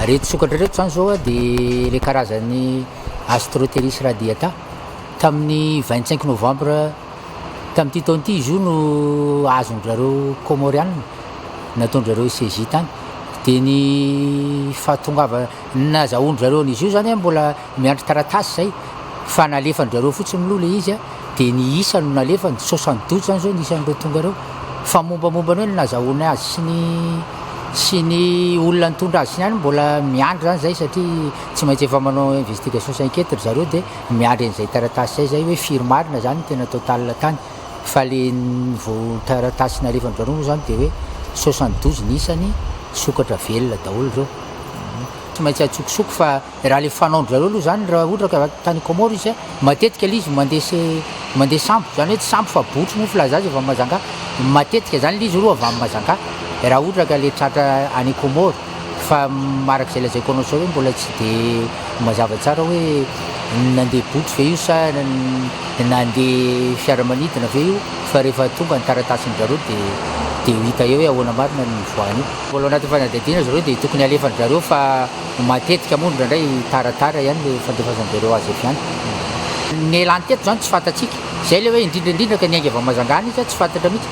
Ireto sokatra ireto izany izao dia ilay karazan'ny Astroteris radiata. Tamin'ny 25 novambra tamin'ity taona ity izy io no azon-dry Komoriana, nataon-dry zareo CJ tany. Dia ny fahatongavana, nazahoan-dry zareo an'izy io izany mbola Miandry taratasy zay fa nalefan drareo fotsiny mlo le izy a, de ny isa no nalefany, soixante douze zany zao ny isan'ireo tonga reo, fa mombamomba ny hoe ny nazahoany azy sy ny sy ny olona nitondra azy sy ny any mbola miandry zany zay satria tsy maintsy efa manao investigation sy enquete ry zareo de miandry an'izay taratasy zay zay hoe firy marina zany ny tena total tany fa le vo taratasy nalefan drareo moa zany de hoe soixante douze ny isany sokatra velona daholo reo tsy maintsy atsokosoko fa Raha ilay fanaon-dry zareo aloha izany, raha ohatra ka tany Comores izy, matetika ilay izy mandresy, mandeha sambo, izany hoe tsy sambo fa botry moa filaza azy avy amin'i Majanga, matetika izany ilay izy aloha avy amin'i Majanga, raha ohatra ka ilay tratra any Comores, fa araka izay lazaiko anao izao hoe mbola tsy dia mazava tsara hoe nandeha botry ve io sa nandeha fiaramanidina ve io, fa rehefa tonga ny taratasin-dry zareo dia dia ho hita eo hoe ahoana marina ny nivoahan'io. Mbola ao anatin'ny fanadihadiana ry zareo dia tokony alefa-dry zareo fa. Matetika moa indraindray taratara ihany ilay fandefasam-bereo azy avy any. Nialany teto izany tsy fantatsika. Izay ilay hoe indrindra indrindra ka niainga avy Amazangaana izy tsy fantatra mihitsy.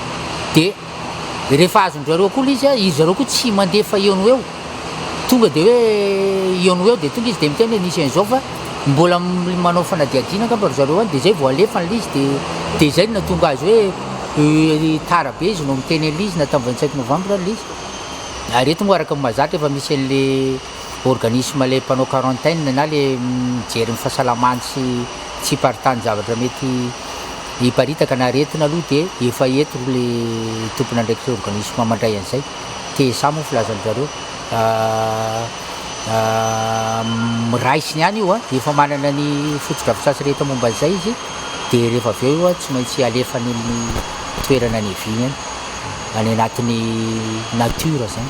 Dia rehefa azon-dry zareo akoho ilay izy, izy zareo koa tsy mandefa eo no eo. Tonga dia hoe eo no eo dia tonga izy dia miteny hoe nisy an'izao fa mbola manao fanadihadiana angamba ry zareo any dia izay vao alefa an'ilay izy dia dia izay no nahatonga azy hoe tara be izy no miteny an'ilay izy na tamin'ny vingt cinq novembre ilay izy. Ary eto moa araka ny mahazatra efa misy an'ilay organisme ilay mpanao quarantaine na ilay mijery ny fahasalamany sy tsy hiparitany zavatra mety hiparitaka na aretina aloha dia efa eto ilay tompon'andraikitra organisme mandray an'izay. TSA moa filazan'ny zareo miraisiny any io dia efa manana ny fotodrafitrasa rehetra momba an'izay izy dia rehefa avy eo io tsy maintsy alefany amin'ny toerana niaviany any. any anatin'ny nature zany.